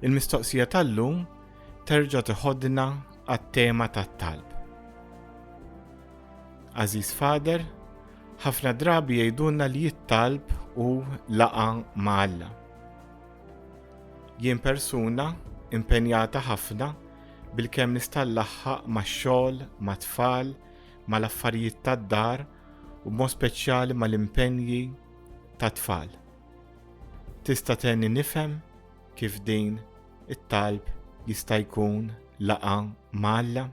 Il-mistoqsija tal-lum terġa' tiħodna għat-tema tat-talb. Aziz Fader, Ħafna drabi jgħidulna li jittalb u laqa ma' Alla. Jien persuna impenjata ħafna bil-kemm nista' nlaħħaq max-xogħol, mat-tfal, mal-affarijiet tad-dar u b'mod speċjali mal-impenji tat-tfal. Tista' tenni nifhem kif din it-talb jista' jkun laqa' malla?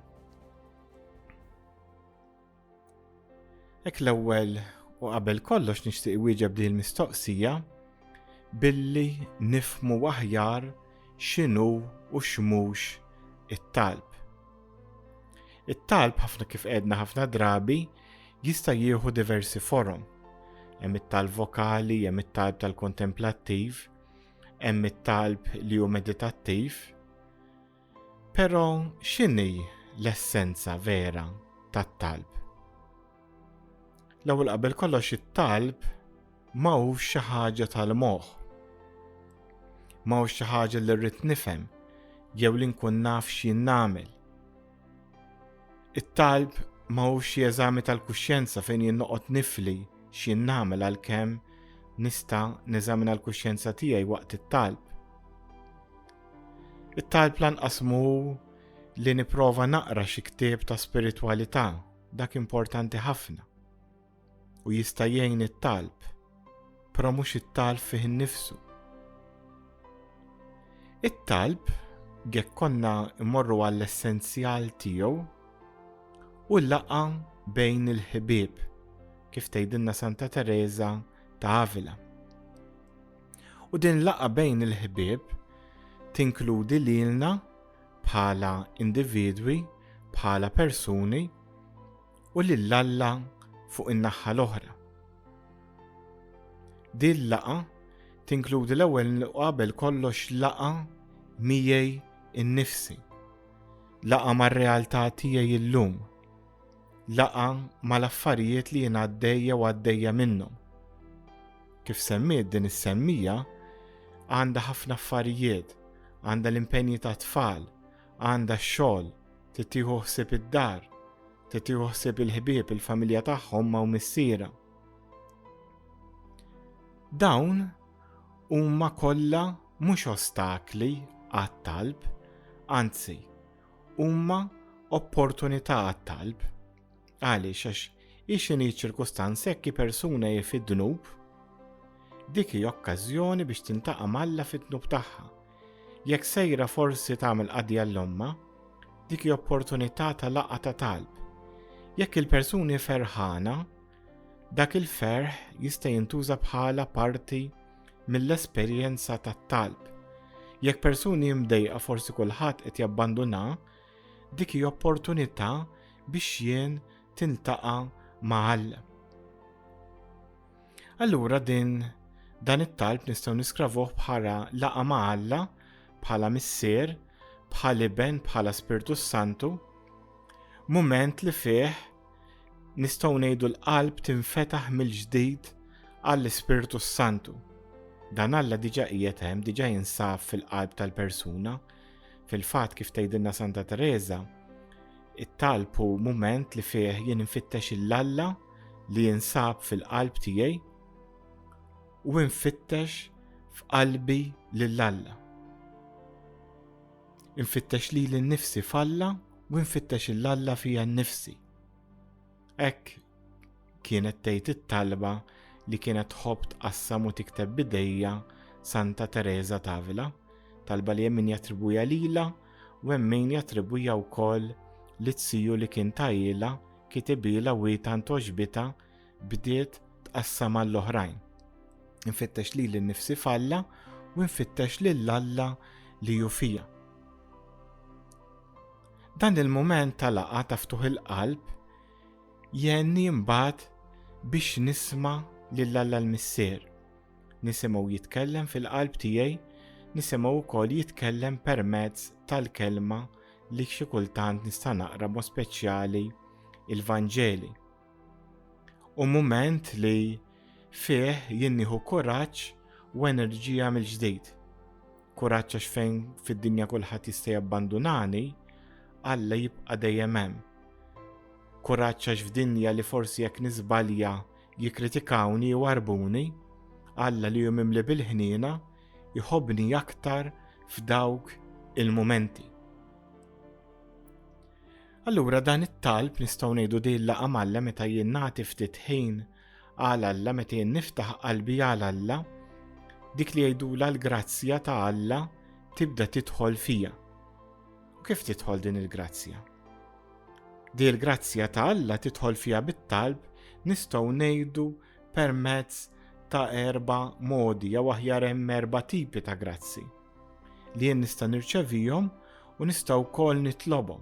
Ek l-ewwel u qabel kollox nixtieq iwieġeb din il-mistoqsija billi nifmu aħjar x'inhu u x'mhux it-talb. It-talb ħafna kif qedna ħafna drabi jista' jieħu diversi forom. Hemm it-talb vokali, hemm it-talb tal-kontemplattiv, hemm it-talb li hu meditattiv. Però x'inhi l-essenza vera tat-talb? L-ewwel qabel kollox it-talb ma hux xi ħaġa tal-moħħ. Ma hux xi ħaġa li rrid nifhem jew li nkun naf x'jien nagħmel. It-talb ma hux xi eżami tal-kuxjenza fejn jien noqgħod nifli x'jien nagħmel għalkemm nista' neżamina l-kuxjenza tiegħi waqt it-talb. It-talb lanqas mhu li nipprova naqra xi ktieb ta' spiritwalità, dak importanti ħafna. U jista' jgħin it-talb, però mhux it-talb fih innifsu. It-talb jekk konna mmorru għall-essenzjal tiegħu u laqa bejn il-ħbieb, kif tgħidilna Santa Teresa ta' Avila. U din laqgħa bejn il-ħbieb tinkludi lilna bħala individwi, bħala persuni u lil Alla fuq in-naħħa l-oħra. Din laqgħa tinkludi l-ewwel qabel kollox laqgħa miegħi innifsi. Laqgħa mar-realtà tiegħi llum. laqgħa mal-affarijiet li jien għaddej jew għaddejja minnhom. Kif semmiet din is-semmija, għandha ħafna affarijiet, għandha l-impenji ta' tfal, għandha x-xogħol, titieħu ħsieb id-dar, titieħu ħsieb il-ħbieb il-familja tagħhom ma' missiera. Dawn huma kollha mhux ostakli għat-talb, anzi, huma opportunità għat-talb. Għaliex għax ixini ċirkustanz hekk persuna hi fid-dnub, dik hi okkażjoni biex tintaqa' malla fid-dnub tagħha. Jekk sejra forsi tagħmel qadja l-omma, dik hi opportunità ta' laqgħa ta' talb. Jekk il-persuni ferħana, Dak il-ferħ jista' jintuża bħala parti mill-esperjenza tat-talb. Jekk persuni mdejqa forsi kulħadd qed jabbanduna, dik hi opportunità biex jien tiltaqa' ma' Alla. Allura din dan it-talb nistgħu niskravuh bħala laqa ma' Alla, bħala missier, bħal iben, bħala Spirtu Santu, mument li fih nistgħu ngħidu l-qalb tinfetaħ mill-ġdid għall-Ispirtu s-Santu. Dan Alla diġa qiegħed hemm, diġa jinsab fil-qalb tal-persuna. Fil-fatt kif tgħidilna Santa Teresa, it-talb hu mument li fih jien nfittex il-Alla li jinsab fil-qalb tiegħi u nfittex f'qalbi lill-Alla. Infittex lili nnifsi f'Alla u nfittex il Alla fija nnifsi. Hekk kienet tgħid it-talba li kienet tħobb tqassam u tikteb b'idejha Santa Teresa t'Avila, talba li hemm min jattribwija lilha u hemm min jattribwija wkoll lit-siju li kien tailha kitibilha u hi tant għoġbitha bdiet tqassam għall-oħrajn. Infittex lili nnifsi f'Alla u nfittex lil Alla li hu fija. Dan il-mument ta' laqa ta' ftuħ il-qalb jenni mbagħad biex nisma' lil Alla l-Missier. Nisimgħu jitkellem fil-qalb tiegħi, nisimgħu wkoll jitkellem permezz tal-kelma li xi kultant nista' naqra mod speċjali il-Vanġeli. u mument li fih jien nieħu kuraġġ u enerġija mill-ġdid. Kuraġġ għax fejn fid-dinja kulħadd jista' jabbandunani, Alla jibqa' dejjem hemm. Kuraġġ għax f'dinja li forsi jekk niżbalja jikkritikawni u arbuni, Alla li jum imli bil-ħniena jħobni aktar f'dawk il-mumenti. Allura dan it-talb nistgħu ngħidu din laqa malla meta jien nagħti ftit ħin għal Alla meta jien niftaħ qalbi għal Alla, dik li jgħidu l-grazzja ta' Alla tibda tidħol fija. U kif tidħol din il-grazzja? Di l-grazzja ta' Alla tidħol fija bit-talb nistgħu ngħidu permezz ta' erba modi jew aħjar hemm erba tipi ta' grazzi. li jien nista' nirċevihom u nista' wkoll nitlobhom.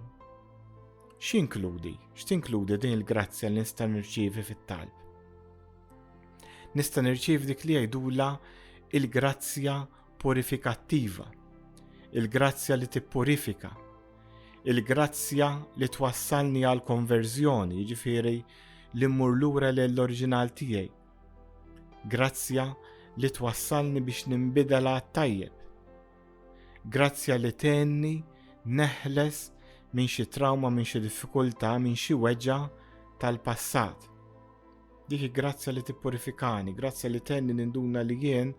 X'inkludi? X'tinkludi din il-grazzja li nista' nirċievi fit-talb? Nista' nirċievi dik li jgħidula il-grazzja purifikattiva, il-grazzja li tippurifika, il-grazzja li twassalni għal konverżjoni, jiġifieri li mmur lura l-oriġinal tiegħi Grazzja li twassalni biex nimbidel għat-tajjeb. Grazzja li tenni neħles minn xi trawma, minn xi diffikultà, minn xi weġa tal-passat. Dik grazzja li tippurifikani, grazzja li tenni ninduna li jien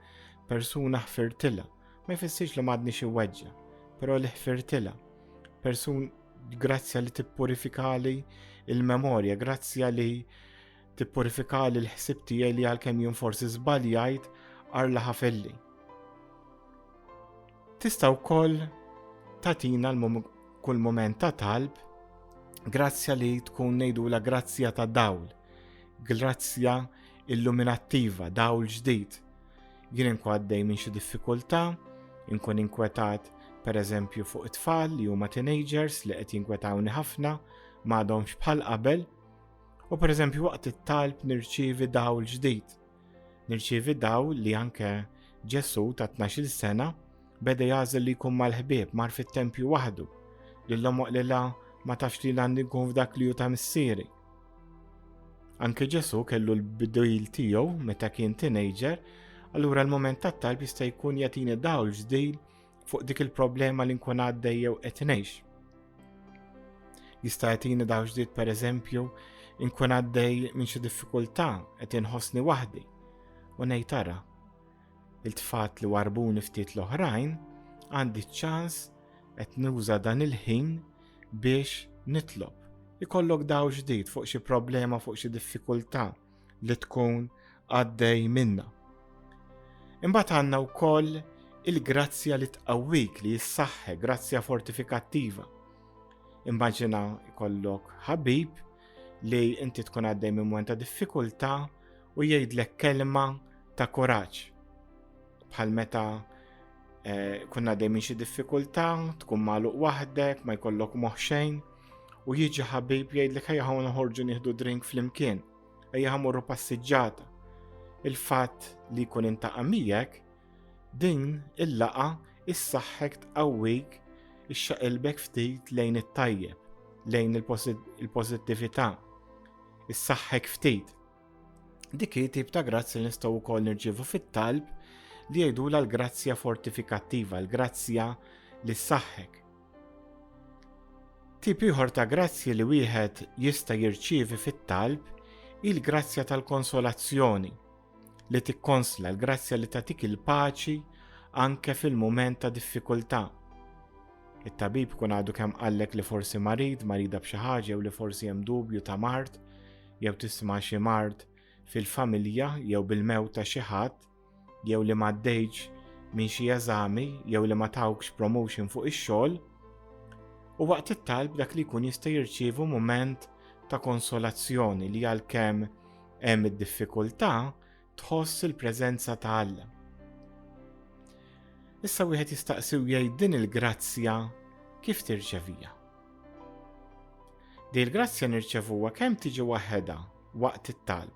persuna ħfirtila. Ma jfissirx li madni xi weġġa, però li ħfirtila. Persun grazzja li tippurifikali il-memorja, grazzja li Tippurifika li l-ħsib tiegħi li għalkemm jien forsi żbaljajt arla ħafelli. Tista' wkoll tatina kull moment ta' talb grazzja li tkun nejdu la grazzja ta' dawl, grazzja illuminattiva, dawl ġdid. Jien inkwaddej minn xi diffikultà, inkun inkwetat per eżempju fuq it-tfal li huma teenagers li qed jinkwetawni ħafna, m'għadhomx bħal qabel, U pereżempju waqt it-talb nirċievi dawl ġdid. Nirċievi dawl li anke Ġesu ta' 12 sena beda jażel li jkun mal-ħbieb mar fit-tempju waħdu li l-omoq li la ma tafx li għandi nkun f'dak li ju ta' missieri. Anke Ġesu kellu l-bidojl tiegħu meta kien teenager, allura l-moment tat-talb jista' jkun jagħtini dawl ġdid fuq dik il-problema li nkun għaddej jew qed ngħix. Jista' jagħtini daw ġdid pereżempju nkun għaddej minn xi diffikultà qed inħossni waħdi u ngħid tara il-tfat li warbuni ftit l-oħrajn għandi ċans qed nuża dan il-ħin biex nitlob. Ikollok daw ġdid fuq xi problema, fuq xi diffikultà li tkun għaddej minna. Imbagħad għandna wkoll il-grazzja li tqawwik li jissaħħe, grazzja fortifikattiva. Immaġina jkollok ħabib li inti tkun għaddej minn mwenta diffikultà u jgħidlek kelma ta' kuraġġ. Bħal meta eh, kunna dejjem xi diffikultà, tkun magħluq waħdek, ma jkollok moħħ xejn, U jiġi ħabib jgħidlek ħajja ħaw noħorġu nieħdu drink flimkien, ejja ħamorru passiġġata. Il-fatt li jkun intaqa' miegħek din il-laqa issaħħek tqawwik ixxaqilbek ftit lejn it-tajjeb, lejn il-pożittività, issaħħek ftit. Dik hi tip ta' grazzi li nistgħu wkoll nirġievu fit-talb li jgħidula l-grazzja fortifikattiva, l-grazzja li ssaħħek. Tip ieħor ta' grazzji li wieħed jista' jirċievi fit-talb hi l-grazzja tal-konsolazzjoni li tikkonsla l-grazzja li tatik il-paċi anke fil-mument ta' diffikultà. It-tabib kun għadu kemm qallek li forsi marid, marida b'xi ħaġa jew li forsi hemm dubju ta' mard jew tisma' xi mard fil-familja jew bil-mew ta' xi ħadd, jew li ma għaddejtx minn xi eżami jew li ma tawkx promotion fuq ix-xogħol, u waqt it-talb dak li jkun jista' jirċievu mument ta' konsolazzjoni li għalkemm hemm id-diffikultà tħoss il-preżenza ta' Alla. Issa wieħed jistaqsiw jgħid din il-grazzja kif tirċevija. Di l-grazzja nirċevuha kemm tiġi waħedha waqt it-talb,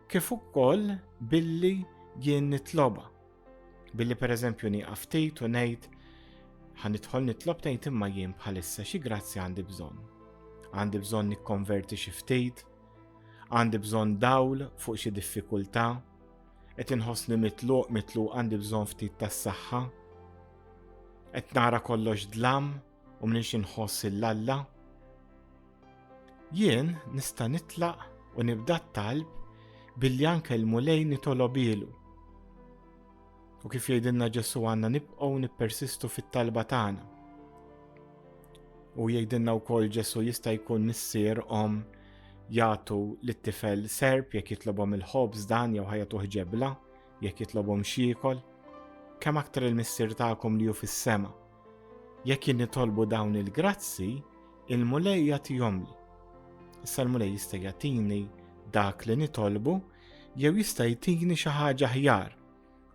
kif ukoll billi jien nitloba. Billi pereżempju nieqaf ftit u ngħid ħanidħol nitlob tgħid imma jien bħalissa xi grazzi għandi bżonn. Għandi bżonn nikkonverti xi ftit, għandi bżonn dawl fuq xi diffikultà, qed inħossni mitluq mitluq għandi bżonn ftit tas-saħħa, qed nara kollox dlam, U minix inħoss il-Alla? Jien nista' nitlaq u nibda t-talb billi anke l-mulej nitolob ilu. U kif jgħidilna Ġesu għanna nibqgħu nippersistu fit-talba tagħna. U jgħidilna wkoll Ġesu jista' jkun missier om jagħtu lit-tifel serb jekk jitlobhom il-ħobż dan jew ħajja tuħġebla jekk jitlobhom xiekol. Kemm aktar il-missier tagħkom li hu fis-sema. Jekk jien nitolbu dawn il-grazzi, il-Mulej jagħtihomli. Issa l-Mulej jista' jagħtini dak li nitolbu jew jista' jtini xi ħaġa ħjar,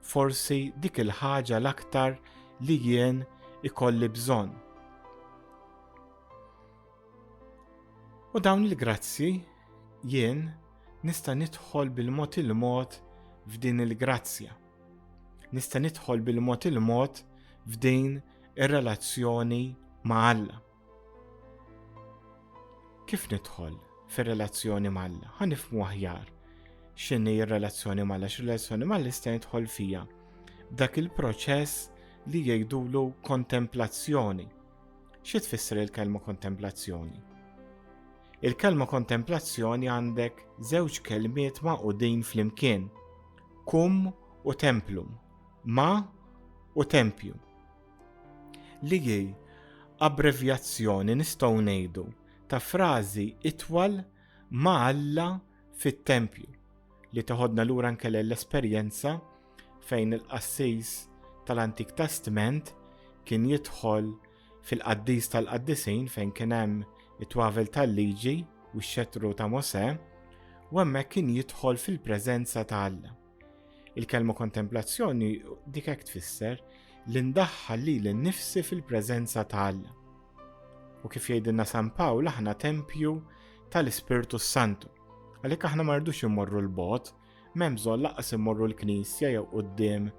forsi dik il-ħaġa l-aktar li jien ikolli bżonn. U dawn il-grazzi jien nista' nidħol bil-mod il-mod f'din il-grazzja. nista' nidħol bil-mod il-mod f'din ir-relazzjoni ma' Alla. Kif nidħol fir-relazzjoni ma' Alla? Ħa nifmu aħjar x'inhi r-relazzjoni ma' Alla, x'relazzjoni ma' Alla nista' nidħol fija. Dak il-proċess li jgħidulu kontemplazzjoni. Xi tfisser il-kelma kontemplazzjoni? Il-kelma kontemplazzjoni għandek żewġ kelmiet maqudin flimkien, kum u templum, ma u tempju. Li hi abbrevjazzjoni nistgħu ngħidu ta' frażi itwal ma' Alla fit-tempju li teħodna lura nkelle l-esperjenza fejn il-qassis tal-Antik Testment kien jidħol Fil-qaddis tal-qaddisin fejn kien hemm it-twavel tal-liġi u x-xetru ta' Mosè, u hemmhekk kien jidħol fil-preżenza ta' Alla. Il-kelma kontemplazzjoni dik hekk tfisser li ndaħħal li l-nifsi fil-preżenza ta' Alla. U kif jgħidilna San Pawl aħna tempju tal-Ispirtu Santu. Għalhekk aħna ma rridux immorru l-bot, m'hemm bżonn laqas immorru l-Knisja jew quddiem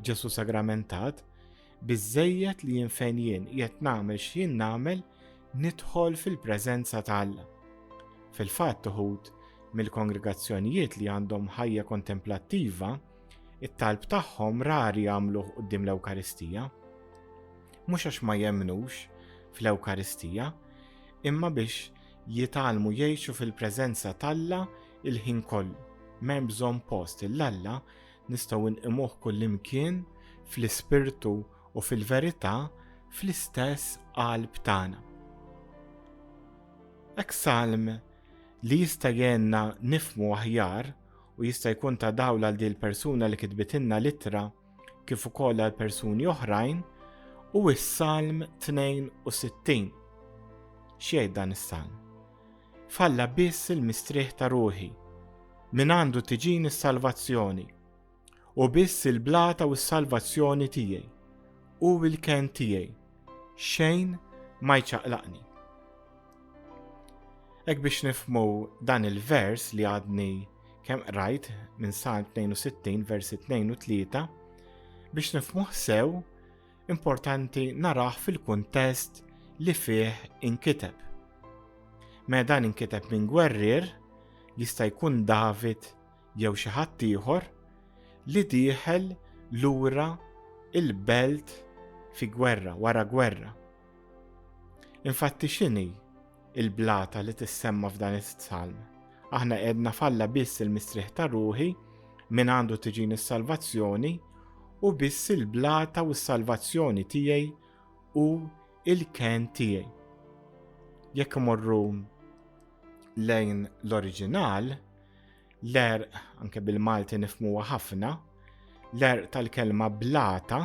Ġesu Sagramentat, Biżżejjed li jien fejn jien qiegħed nagħmel x'jien nagħmel nidħol fil-preżenza ta' Alla. Fil-fatt uħud mill-kongregazzjonijiet li għandhom ħajja kontemplattiva, it-talb tagħhom rari jagħmluh quddiem l-Ewkaristija. Mhux għax ma jemnux fl-Ewkaristija, imma biex jitalmu jgħixu fil-preżenza t'Alla il-ħin kollu. M'hemm bżonn post il-Alla Nistgħu nqimuh kullimkien fl-ispirtu u fil-verità fl-istess qalb tagħna. Ek salm li jista' jenna nifmu aħjar u jista' jkun ta' dawl għal din persuna li kitbitilna litra kif ukoll għal persuni oħrajn u s-Salm 62. X'jgħid dan is-Salm? F'Alla biss il-mistrieħ ta' ruħi, mingħandu tiġini s-salvazzjoni, u biss il-blata u s-salvazzjoni tiegħi, hu l-kenn tiegħi, xejn ma jċaqlaqni. Hekk biex nifhmu dan il-vers li għadni kemm qrajt minn Salm 62 versi 2 u 3 biex nifhmuh sew importanti naraħ fil-kuntest li fih inkiteb. Meta dan inkiteb minn gwerrier, jista' jkun David jew xi ħadd ieħor li dieħel lura il-belt fi gwerra wara gwerra. Infatti x'inhi il-blata li tissemma f'dan is-salm. Aħna edna falla biss il-mistrieħ ta' ruħi minn għandu tiġini s-salvazzjoni u biss il-blata u s-salvazzjoni tiegħi u il-ken tiegħi. Jekk morru lejn l-oriġinal, l-er, anke bil-Malti nifmuwa ħafna, l-er tal-kelma blata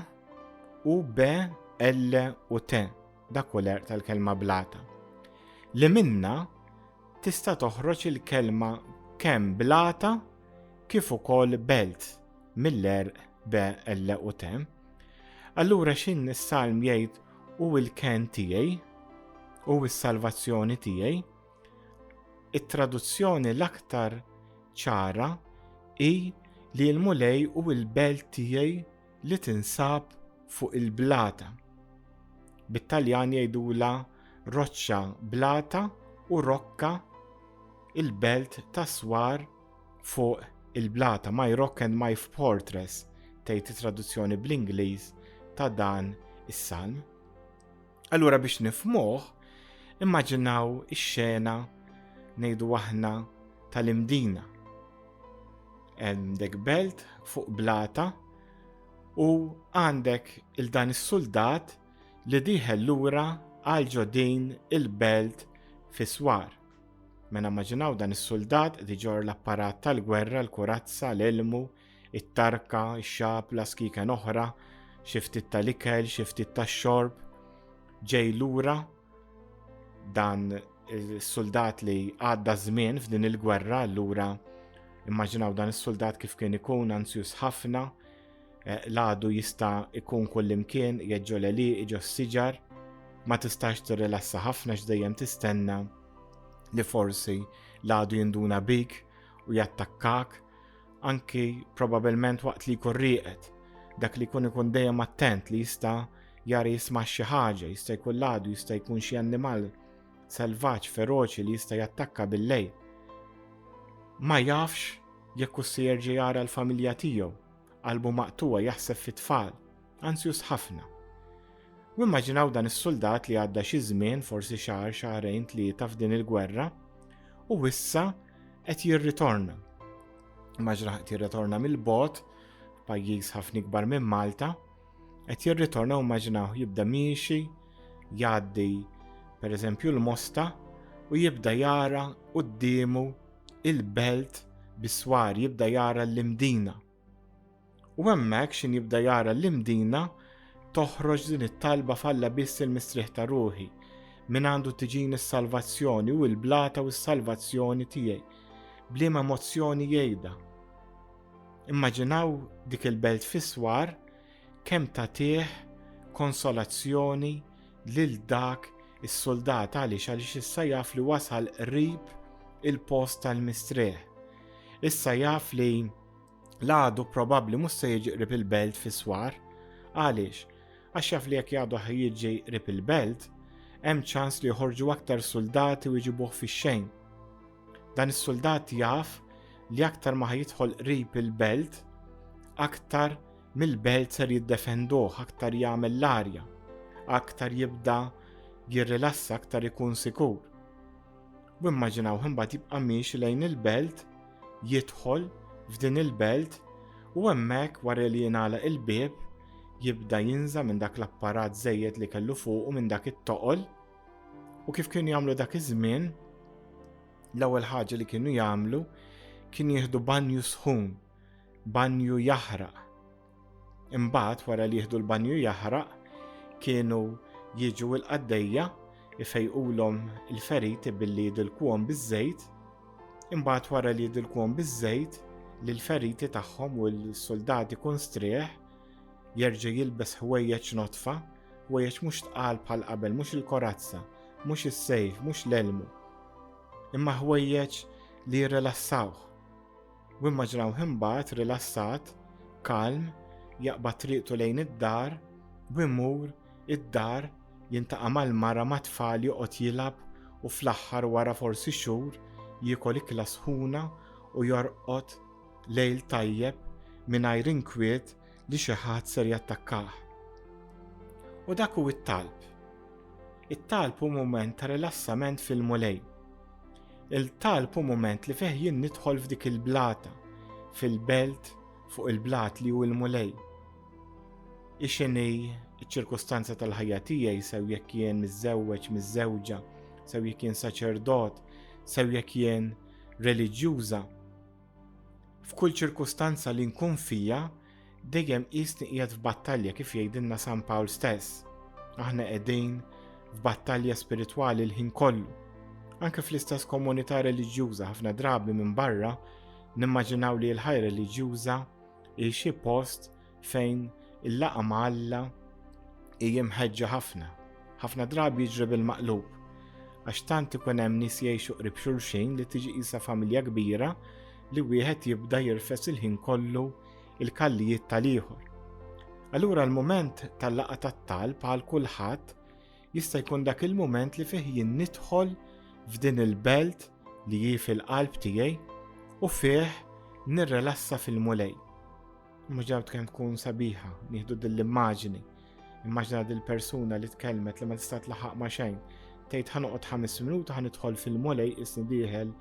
u be L u te. Dak hu l-għerq tal-kelma blata. Li minnha tista' toħroġ il-kelma kemm blata kif ukoll belt mill-għerq be l u te. Allura xin is-salm jgħid u l-ken tiegħi u s-salvazzjoni tiegħi. It-traduzzjoni l-aktar ċara hi li l-mulej u l-belt tiegħi li tinsab fuq il-blata. Bit-Taljan jgħidula roċċa blata u rokka il-belt ta' swar fuq il-blata. My rock and my fortress tgħid it-traduzzjoni bl-Ingliż ta' dan is-salm. Allura biex nifmuh, immaġinaw ix-xena ngħidu aħna tal-imdina. Għandek belt fuq blata u għandek il-dan is-suldat li diħel lura għal ġodin il-belt fiswar. Mena maġinaw dan is-suldat diġor l-apparat tal-gwerra, l-kurazza, l-ilmu, it-tarka, ix-xabla, skiken oħra, xi ftit tal-ikel, xi ftit tax-xorb. Ġej lura dan is-suldat li għadda żmien f'din il-gwerra, allura immaġinaw dan is-suldat kif kien ikun ansjus ħafna, eh, l-għadu jista' ikun kullimkien, jeġġo l-eli, iġo s-siġar, ma tistax tirrilassa ħafna x'dejjem tistenna li forsi l-għadu jinduna bik u jattakkak anki probabilment waqt li jkun rieqed, dak li jkun ikun dejjem attent li jista' jara jisma' xi ħaġa, jista' jkun ladu, jista' jkun xi annimal selvaġġ feroċi li jista' jattakka bil-lejl. Ma jafx jekk u se jerġa' jara l-familja tiegħu, qalbu maqtuwa jaħseb fit-tfal, Anzjus ħafna. U immaġinaw dan is-suldat li għadda xi żmien, forsi xahar, xahrejn, tlieta f'din il-gwerra, u issa qed jirritorna. Immaġina qed jirritorna mill-bot, pajjiż ħafna ikbar minn Malta, qed jirritorna u immaġinaw jibda miexi, jgħaddi pereżempju l-mosta u jibda jara quddiemu il-belt biswar, jibda jara l-imdina U hemmhekk xin jibda jara l-imdina toħroġ din it-talba falla biss il-mistrieħ ta' ruħi, min għandu tiġini s-salvazzjoni u l-blata u s-salvazzjoni tiegħi. Bliema emozzjoni jgħidha. Immaġinaw dik il-belt fiswar kemm tagħtih konsolazzjoni lil dak is-soldat għaliex għaliex issa jaf li wasal qrib il-post tal-mistrieħ. Issa jaf li l-għadu probabbli mhux se jiġi qrib il-belt fis-swar. Għaliex? Għax jaf li jekk jgħadu jiġi qrib il-belt, hemm ċans li joħorġu aktar suldati u jġibuh fix-xejn. Dan is-suldat jaf li aktar ma jidħol qrib il-belt, aktar mill-belt ser jiddefenduh, aktar jagħmel l-arja, aktar jibda jirrilassa, aktar ikun sikur. U immaġinaw imbagħad jibqa' miex lejn il-belt, jidħol f'din il-belt u hemmhekk wara li jingħalaq il-bieb jibda jinża minn dak l-apparat żejjed li kellu fuq u minn dak it-toqol. U kif kienu jagħmlu dak iż-żmien, l-ewwel ħaġa li kienu jagħmlu kien jieħdu banju sħun, banju jaħraq, Imbagħad wara li jieħdu l-banju jaħraq kienu jiġu l-qaddejja ifejqulhom il-feriti billi jidilkuhom biż-żejt, imbagħad wara li jidilkuhom biż-żejt lil feriti tagħhom u l-suldati kun strieħ jerġa' jilbes ħwejjeġ nodfa, ħwejjeġ mhux tqal bħal qabel, mhux il-korazza, mhux is-sejf, mhux l-elmu, imma ħwejjeġ li jirrilassawh. U immaġinawh imbagħad rilassat, kalm, jaqbad triqtu lejn id-dar u jmur id-dar jintaqa' mal-mara mat-tfal joqgħod jilgħab u fl-aħħar wara forsi xhur jiekol ikla sħuna u jorqod lejl tajjeb mingħajr inkwiet li xi ħadd ser jattakkah. U dak hu t-talb. It-talb hu mument ta' rilassament fil-Mulej. Il-talb hu mument li fih jien nidħol f'dik il-blata, fil-belt fuq il-blat li hu l-Mulej. Ixini ċ-ċirkustanza tal-ħajja tiegħi sew jekk jien miżżewweġ, miżżewġa, sew jekk jien saċerdot, sew jekk jien reliġjuża, F'kull ċirkustanza li nkun fija, dejjem qisni qiegħed f'battalja kif jgħidilna San Pawl stess. Aħna qegħdin f'battalja spiritwali l-ħin kollu. Anke fl-istess komunità reliġjuża ħafna drabi minn barra nimmaġinaw li l-ħajja reliġjuża hi xi post fejn il-laqa ma' Alla hija mħeġġa ħafna. Ħafna drabi jiġri bil-maqlub għax tant ikun hemm nies jgħixu qrib xulxin li tiġi qisha familja kbira li wieħed jibda jirfes il-ħin kollu il-kallijiet tal-ieħor. Allura l-mument tal-laqa tat-talb għal kulħadd jista' jkun dak il-mument li fih jien nidħol f'din il-belt li hi fil-qalb tiegħi u fih nirrelassa fil-mulej. Mhux dejjem kemm tkun sabiħa, nieħdu din l-immaġini. Immaġina din persuna li tkellmet li ma tista' tlaħaq ma' xejn. Tgħid ħanoqgħod ħames minuta ħanidħol fil-mulej isni dieħel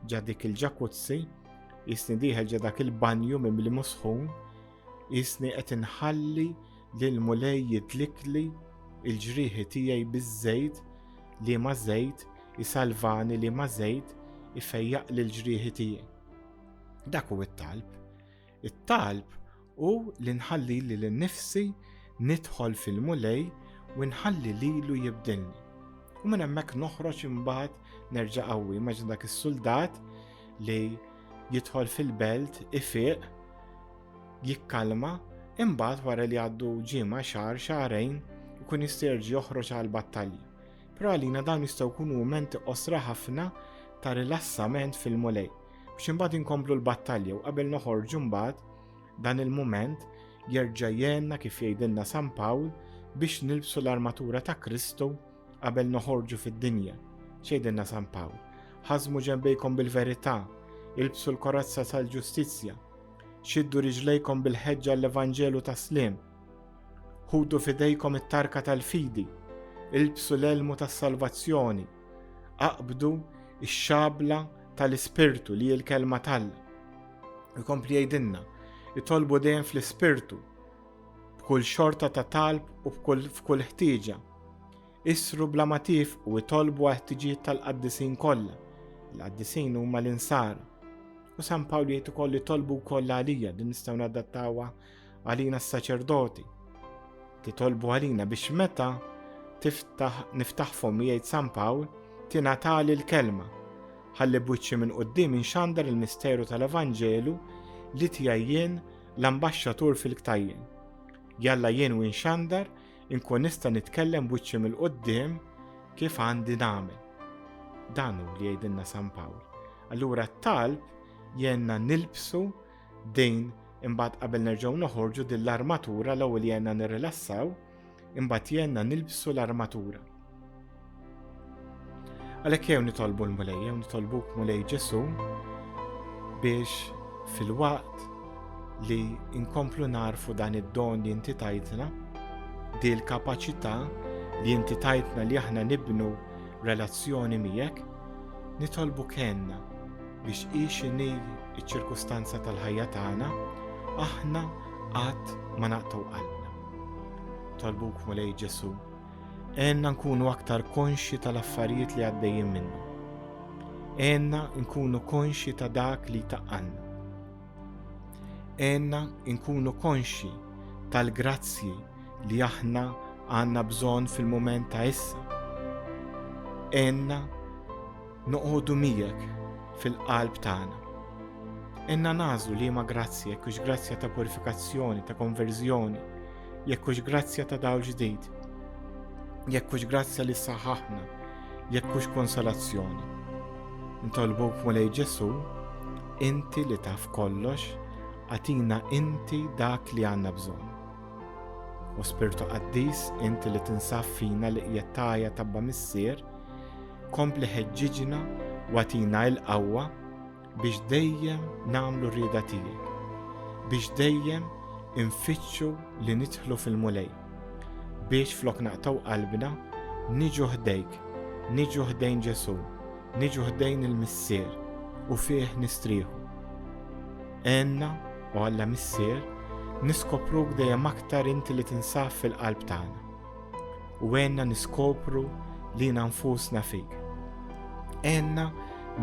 ġa dik il-ġakuzzi, isni dieħel ġa dak il-banju minn li musħun, isni qed inħalli li l-mulej jidlikli il-ġrieħi tiegħi biż-żejt li ma' żejt isalvani li ma' żejt ifejjaq l-ġrieħi tiegħi. Dak u it-talb It-talb hu li nħalli lil innifsi nidħol fil-Mulej u nħalli lilu jibdilni. U minn hemmhekk noħroġ imbagħad nerġa' qawwi. Immaġina dak is-suldat li jidħol fil-belt, ifiq, jikkalma, imbagħad wara li għaddu ġimgħa xahar xahrejn ikun jisterġ joħroġ għal battalji. Però għalina dawn jistgħu jkunu mumenti qosra ħafna ta' rilassament fil-mulej. biex imbagħad inkomplu l-battalja u qabel noħorġu mbagħad dan il-mument jerġa' jenna kif jgħidilna San Pawl biex nilbsu l-armatura ta' Kristu qabel noħorġu fid-dinja. Xejdinna San Pawl, ħazmu ġembejkom bil-verità, ilbsu l-korazza tal-ġustizzja, xiddu riġlejkom bil-ħeġġa l-Evanġelu ta' slim, ħudu fidejkom it-tarka tal-fidi, ilbsu l-elmu tas-salvazzjoni, Aqbdu x-xabla tal-Ispirtu li hi l-kelma t'Alla. Ikompli jgħidilna, itolbu dejjem fl-Ispirtu, b'kull xorta ta' talb u f'kull ħtieġa. Isru bla ma tifqu itolbu għal ħtiġijiet tal-qaddisin kollha. Il-qaddisin huma l-insara. U San Pawl jgħid ukoll li tolbu wkoll għalija din nistgħu nadattawha għalina s-saċerdoti. Titolbu għalina biex meta tiftaħ niftaħ fom jgħid San Pawl tingħatali l-kelma. Ħalli bwiċċi minn qudiem inxandar il-misteru tal-Evanġelu li tiegħi jien l-ambaxxatur fil-ktajjen. Jalla jien u nxandar inkun nista' nitkellem bwiċċi mill-qudiem kif għandi nagħmel. Dan hu li jgħidilna San Pawl. Allura t-talb jenna nilbsu Din imbagħad qabel nerġgħu noħorġu din l-armatura l-ewwel jenna nirrilassaw, imbagħad jenna nilbsu l-armatura. Għalhekk jew nitolbu l-Mulej, jew nitolbu Mulej Ġesu biex fil-waqt li inkomplu narfu dan id-don li inti tajtna, di l-kapaċità li inti tajtna li aħna nibnu relazzjoni miegħek, nitolbu kenna biex hi x'inhi ċ-ċirkustanza tal-ħajja tagħna, aħna qatt ma naqtgħu qalbna. Talbuk Mulej Ġesu, għenna nkunu aktar konxi tal-affarijiet li għaddejjin minnu. Għenna nkunu konxi ta' dak li taqqanna. Għenna nkunu konxi tal-grazzji li aħna għanna bżon fil-moment ta' issa. Għenna Noqogħdu miegħek fil-qalb tagħna. Inna nagħżlu liema grazzja jekk hux grazzja ta' purifikazzjoni, ta' konverżjoni, jekk hux grazzja ta' dawl ġdid, jekk hux grazzja li saħaħna, jekk hux konsolazzjoni. Ntolbuk mulej Ġesu, inti li taf kollox, għatina inti dak li għandna bżonn. U spirtu qaddis inti li tinsaf fina li qiegħed tajja tabba missier, kompli ħeġġiġna u għatina il-qawwa biex dejjem nagħmlu rieda tiegħek, biex dejjem infittxu li nidħlu fil-mulej, biex flok naqtaw qalbna niġu ħdejk, niġu ħdejn Ġesu, niġu ħdejn il-Missier u fih nistrieħu. Enna u Alla Missier niskopruk dejjem aktar inti li tinsaf fil-qalb tagħna. u għenna niskopru li nfusna fik. Għenna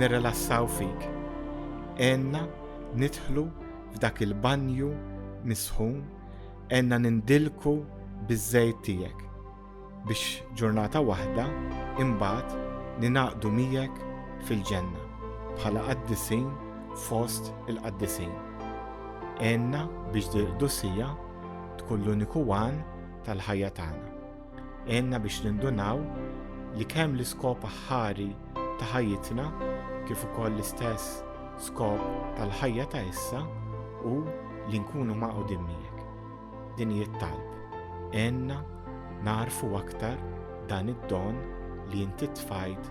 nirrelassaw fik. Għenna nidħlu f'dak il-banju misħun, għenna nindilku biż-żejt tiegħek biex ġurnata waħda imbagħad ninaqdu miegħek fil-ġenna bħala qaddisin fost il-qaddisin. Għenna biex dil-qdusija tkun l-uniku għan tal-ħajja tagħna. Għenna biex nindunaw li kemm l-iskop aħħari ta' ħajjitna kif ukoll l-istess skop tal-ħajja ta' issa u li nkunu maqudin miegħek. Din hi talb Għenna narfu aktar dan id-don li inti tfajt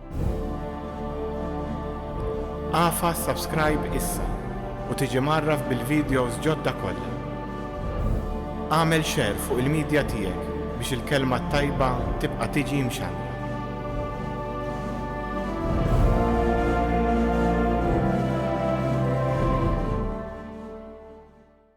Afa subscribe issa u tiġi mgħarraf bil-videos ġodda kollha. Agħmel share fuq il-media tiegħek biex il-kelma t-tajba tibqa' tiġi mxandra.